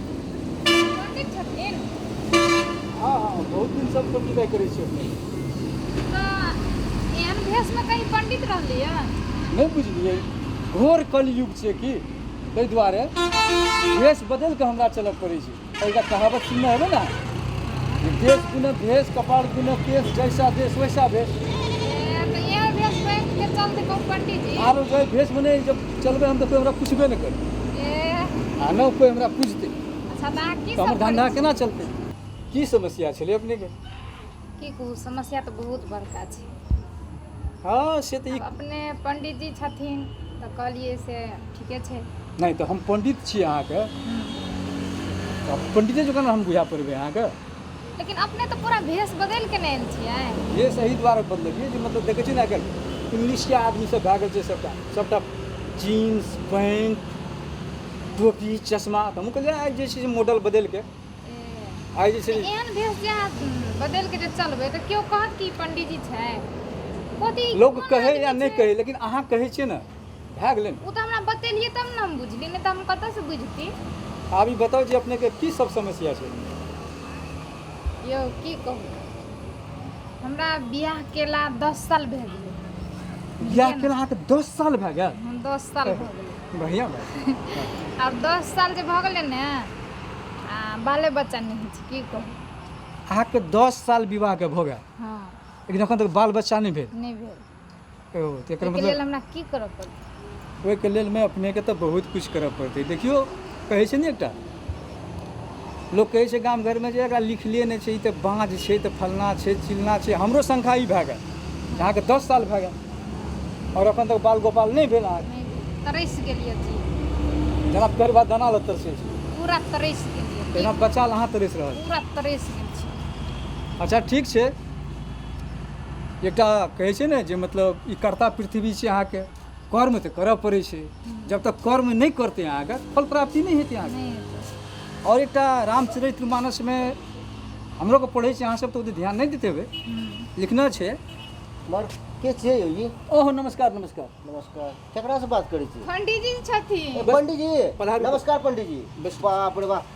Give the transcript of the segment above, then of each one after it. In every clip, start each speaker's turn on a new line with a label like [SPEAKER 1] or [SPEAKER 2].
[SPEAKER 1] पंडित छथिन हँ हँ बहुत दिन सब पंडिताइ करै छी अपने तऽ एहन भेषमे कहीं पंडित रहलियै नहि बुझलियै घोर कलयुग छै कि ताहि दुआरे भेष बदलि कऽ हमरा चलऽ पड़ै छै एकटा कहावत सुनने हेबै ने जे देश गुने भेष कपाल गुने केश जैसा देश वैसा भेष ए, तऽ एहन भेषमे के चलते कहू पंडित जी आरो जे भेष मने जब चलबै हम तऽ कोइ हमरा पुछबे नहि करतै आ नहि कोइ हमरा पुछतै अच्छा तऽ अहाँ की तऽ हमर सब धंधा करै केना चलतै की समस्या छलै अपनेके छी? की कहू समस्या तऽ बहुत बड़का छै हँ से तऽ ई आब अपने पंडीजी छथिन तऽ कहलिए से ठीके छै नहि तऽ हम पंडित छी अहाँके तऽ पंडिते जकाँ ने हम बुझा पड़बै अहाँके लेकिन अपने तऽ पूरा भेष बदलि के ने आयल छियै ये सही द्वारा बदललियै जे मतलब देखै छियै ने आइ इंग्लिश के आदमी सब भए गेल छै सबटा सबटा जीन्स पैंट टोपी चश्मा तऽ हमहूँ कहलियै आइ जे छै से मॉडल बदलि के आइ जे छै एहन भेष जे अहाँ बदलि के जे चलबै तऽ केओ कहत कि पंडीजी छै लोक कहै या नहि कहै लेकिन अहाँ कहै छियै ने भए गेलै ने ओ तऽ हमरा बतेलियै तब ने हम बुझलियै नहि तऽ हम कतऽसँ बुझती आब ई बताउ जे अपनेके की सब समस्या छै यौ की कहू हमरा बियाह केला दस साल भए गेलै बियाह केला अहाँके दस साल भए गेल हम दस साल भए गेलै बढ़िआँ बात आब दस साल जे भऽ गेलै ने आ बाले बच्चा नहि होइ छै की कहू अहाँके दस साल विवाहके भऽ गेल हँ लेकिन एखन तक बाल बच्चा नहि भेल नहि भेल ओ तऽ एकर ओहिके मतलब लेल हमरा की करऽ पड़तै ओहिके लेल मे अपनेके तऽ बहुत किछु करय पड़तै देखियौ कहै छै ने एकटा लोक कहै छै गाम घरमे जे एकरा लिखले नहि छै ई तऽ बाँझ छै तऽ फलना छै चिलना छै हमरो संख्या ई भए गेल अहाँके दस साल भए गेल आओर एखन तक बाल गोपाल नहि भेल अहाँके नहि भेल। तरसि गेलियै जी जेना पेड़ भात दाना लग तरसै छै पूरा तरसि गेलियै तहिना बच्चा लए अहाँ तरसि रहल पूरा तरसि गेल छी अच्छा ठीक छै एकटा कहै छै ने जे मतलब ई कर्ता पृथ्वी छै अहाँके कर्म तऽ करऽ पड़ै छै जब तक कर्म नहि करतै अहाँके फल प्राप्ति नहि हेतै अहाँके आओर एकटा रामचरित्र मानसमे हमरो के पढ़ै छी अहाँ सब तऽ ध्यान नहि देते हेबै लिखना छै मर के छियै यौ जी ओह नमस्कार नमस्कार नमस्कार केकरा से बात करै छी पंडित जी छथिन पंडित जी नमस्कार पंडित जी बाप रे बाप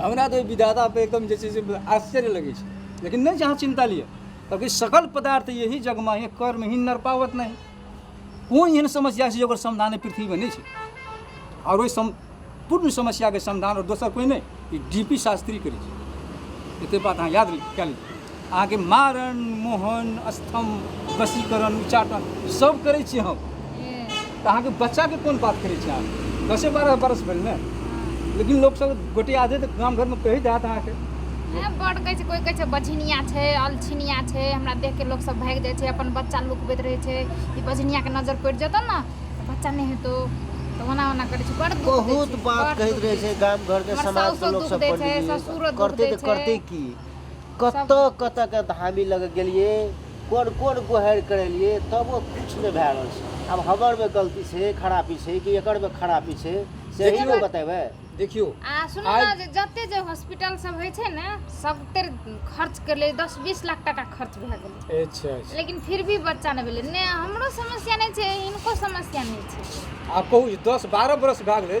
[SPEAKER 1] हमरा तऽ विधाता पे एकदम जे छै से आश्चर्य लगै छै लेकिन नहि जहाँ चिन्ता लिअ किएकि सकल पदार्थ यही जगमा ही कर्म ही नर पावत नहि कोन एहन समस्या छै ओकर समाधान पृथ्वीमे नहि छै आओर ओहि सम पूर्ण समस्याके समाधान आओर दोसर कोइ नहि ई डी पी शास्त्री करै छै एतेक बात अहाँ याद कए लिअ अहाँके मारण मोहन स्तंभ वशीकरण उच्चाटन सब करै छी हम तऽ अहाँके बच्चाके कोन बात करै छी अहाँ दसे बारह बरस भेल ने लेकिन लोक सब गोटे आधे तऽ गाम घरमे कहि देत अहाँके बड़ कहै छै कोइ कहै छै बझिनिया छै अलछिनिया छै हमरा देख के लोक सब भागि जाइ छै अपन बच्चा लुकबैत रहै छै ई बझिनियाके नजर पड़ि जेतौ ने तऽ बच्चा नहि हेतौ तऽ ओना ओना करै छै बड़ बहुत बात कहैत रहै छै गाम घरके समाजके लोक सब करते की कतऽ कतऽ के धामी लग गेलिए कोन कोन गोहरि करेलिए तबो किछु नहि भए रहल छै आब हमरमे गलती छै खरापी छै कि एकरमे खरापी छै से देखियौ ने बतेबै देखियौ आ सुनू ने जे जते जे हॉस्पिटल सब होइ छै ने सब तर खर्च कर ले दस बीस लाख टाका खर्च भए गेलै अच्छा, अच्छा। लेकिन फिर भी बच्चा नहि भेलै नहि हमरो समस्या नहि छै हिनको समस्या नहि छै आ कहू दस बारह बरस भए गेलै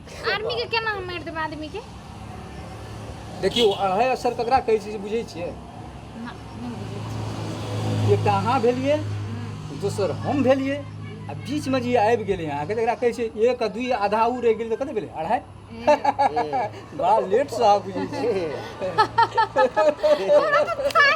[SPEAKER 1] आर्मी के केना हम मारि देब आदमी के देखियौ अढ़ाइ अक्षर ककरा कहै छै से बुझै छियै ना, नहीं बुझै छी। एकटा अहाँ भेलियै हम्म, दोसर हम भेलियै आ बीचमे जे आबि गेलै अहाँके तकरा कहै छै एक आ दुइ आधा ओ रहि गेलै तऽ कते भेलै अढ़ाइ ए, बड़ा लेटसँ अहाँ बुझै छियै हमरा तऽ साया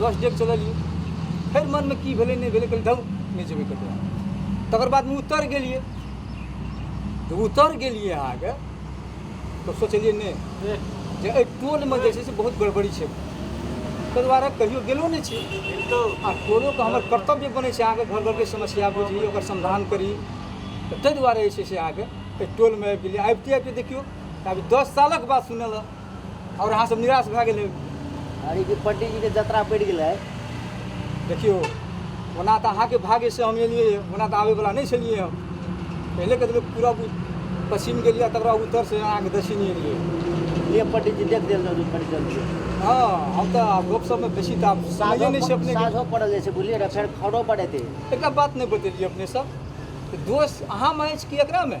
[SPEAKER 1] दस डेग चललियै फेर मनमे की भेलै नहि भेलै कहलियै धरू नहि जेबै कतहु तकर बादमे उत्तर गेलियै तऽ उत्तर गेलियै अहाँके तऽ सोचलियै नहि जे एहि टोलमे जे छै से बहुत गड़बड़ी छै ताहि दुआरे कहियो गेलो नहि छी आ टोलोके हमर कर्तव्य बनै छै अहाँके घर घरके समस्या बुझी ओकर समाधान करी तऽ ताहि दुआरे जे छै से अहाँके एहि टोलमे आबि गेलियै आबिते आबिते देखियौ तऽ अभी दस सालक बात सुनल और अहाँ सब निराश भए गेल अरे कि पंडित जी के जतरा पड़ गेलै देखियो ओना तऽ अहाँके भाग्य से हम एलियै ओना तऽ आबैवला नहि छलियै हम पहिले के लोक पूरा पश्चिम गेलियै तकर बाद उत्तर से अहाँके दक्षिण एलियै ये पंडित जी देख देल रहू पंडित जल्दी हँ हम तऽ आब गप सबमे बेसी तऽ आब समझै नहि छै अपने साझो पड़ल जाइ छै बुझलियै ने फेर खरो पड़ेतै एकटा बात नहि बतेलियै अपने सब दोष अहाँमे अछि कि एकरामे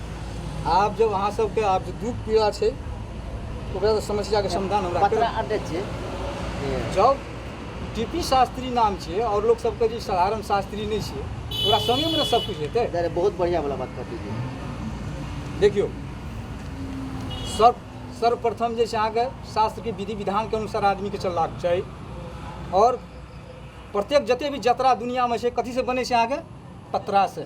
[SPEAKER 1] आब जब अहाँ सबके आब जे दुख पीड़ा छै ओकरा तऽ समस्याके समाधान हमरा पतरा करब। अड्डे छै जब टीपी शास्त्री नाम छै आओर लोक सबके जे साधारण शास्त्री नहि छै ओकरा समयमे ने सब किछु हेतै अरे बहुत बढ़िया वाला बात कर दीजिए देखियौ सर्व सर्वप्रथम जे छै अहाँके शास्त्रके विधि विधानके अनुसार आदमीके चलबाक चाही आओर प्रत्येक जते भी जतरा दुनियामे छै कथीसँ बनै छै अहाँके पतरासँ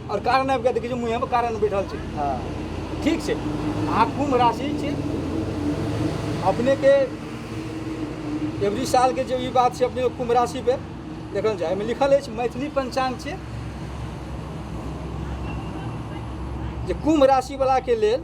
[SPEAKER 1] आओर कारण आबि कऽ देखै छै मुँहेमे कारण बैठल छै हँ ठीक छै अहाँ कुम्भ राशि छी अपनेके एवरी सालके जे ई बात छै अपने कुम्भ राशि पे देखल जाय एहिमे लिखल अछि मैथिली पंचांग छै जे कुम्भ राशिवलाके लेल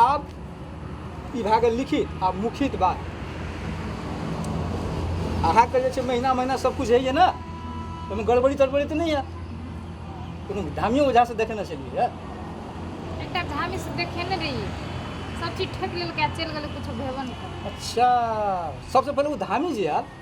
[SPEAKER 1] आब ई भए गेल लिखित आब मुखित बात अहाँके जे छै महीना महीना सब कुछ होइए ने ओहिमे गड़बड़ी तड़बड़ी तऽ नहि यऽ कोनो धामियो ओझासँ देखेने छलियै यऽ एकटा धामी से देखेने रही सब चीज ठोक लेलकै आ चलि गेलै कुछो भेबो नहि अच्छा सबसँ पहिले ओ धामी जे आयल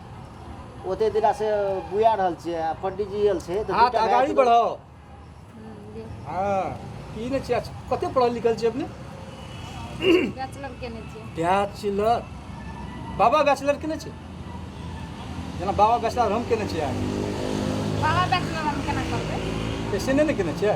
[SPEAKER 1] ओते दिना से बुआ रहल छियै आ पंडित जी आयल छै तऽ हाथ दूटा अगाड़ी गायक- बढ़ाओ हाँ ई ने छियै अच्छा, कते पढ़ल लिखल छियै अपने बैचलर केने छियै बैचलर बाबा बैचलर केने छै जेना बाबा बैचलर हम केने छियै बाबा बैचलर हम केना करबै ऐसे नहि ने केने छियै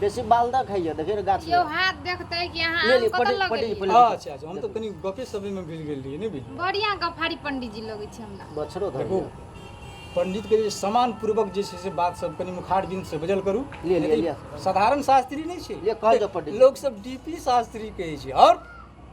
[SPEAKER 1] बेसी बाल दऽ खाइए देखियौ ने गाछ यौ हाथ देखतै कि अहाँ ले आम ली, कतऽ पढ़ी- लऽ पढ़ी- गेलियै पढ़ी। अच्छा अच्छा हम तऽ कनी गपे सपे मे भूल गेल रहियै नहि बुझलियै बढ़िया गफारी पंडित जी लगै छै हमरा बछरो धर देखू पंडित के जे सम्मान पूर्वक जे छै से बात सब कनी मुखार बिंद से बजल करू लिअ, लिअ, यदि लिअ। साधारण शास्त्री नहि छै लिअ, कहल जाउ पंडित। लोक सब डीपी शास्त्री कहै छै और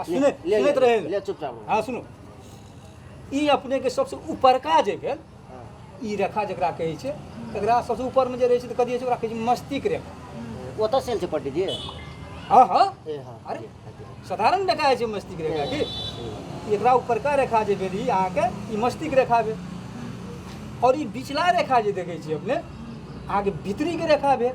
[SPEAKER 1] आ ले- सुनैत ले- सुनैत ले- रहे ले चुपचाप रहो। हाँ सुनू ई अपने के सबसे ऊपरका जे भेल हाँ। ई रेखा जकरा कहै छै एकरा सबसे ऊपर में जे रहै छै तऽ कथी होइ छै ओकरा कहै छै मस्तिष्क रेखा वो तो सेल से पट्टी जी हाँ हाँ ए हाँ अरे। जी, हाँ जी, हाँ साधारण रेखा होइ छै मस्तिष्क रेखा की जी। एकरा ऊपरका रेखा जे भेल ई अहाँके ई मस्तिष्क रेखा भेल आओर ई बिचला रेखा जे देखै छियै अपने अहाँके भीतरीके रेखा भेल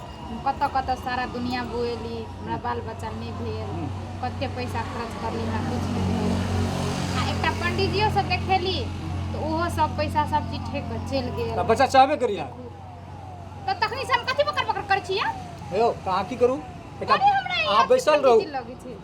[SPEAKER 1] कतऽ कतऽ सारा दुनिया बुएली हमरा बाल बच्चा नहि भेल कते पैसा खर्च करली हमरा कुछ नहि भेल आ एकटा पंडिजियो सब देखेली तऽ ओहो सब पैसा सब चीज ठेक कऽ चलि गेल तऽ बच्चा चाहबे करी अहाँ तऽ तखनी से हम कथी बकर बकर करै छियै यौ तऽ अहाँ की करू एकटा अरे हमरा अहाँ यहाँ बैसल रहू पंडिजी लगै छै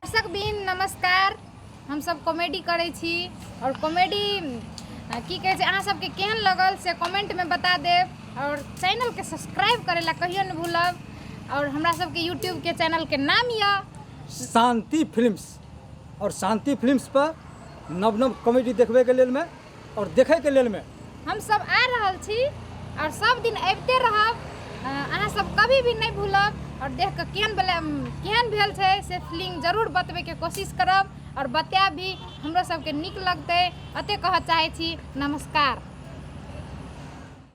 [SPEAKER 1] दर्शक बीन नमस्कार हमसब कॉमेडी करै छी आओर कॉमेडी अ, की कहै छै अहाँ सबके केहन लगल से कमेंटमे बता देब आओर चैनलके सब्सक्राइब करै लए कहियो नहि भूलब आओर हमरा सबके यूट्यूबके चैनलके नाम यऽ शांति फिल्म्स और शांति फिल्म्स पर नव नव कॉमेडी देखबे के लेल में और देखे के लेल में हम सब आ रहल छी और सब दिन अबते रहब अ, अहाँ सब कभी भी नहीं भूलब और देख के केहन भेल केहन भेल छै से फिल्म जरूर बतबे के कोशिश करब और बतायब भी हमरो सबके नीक लगतै अते कहऽ चाहै छी नमस्कार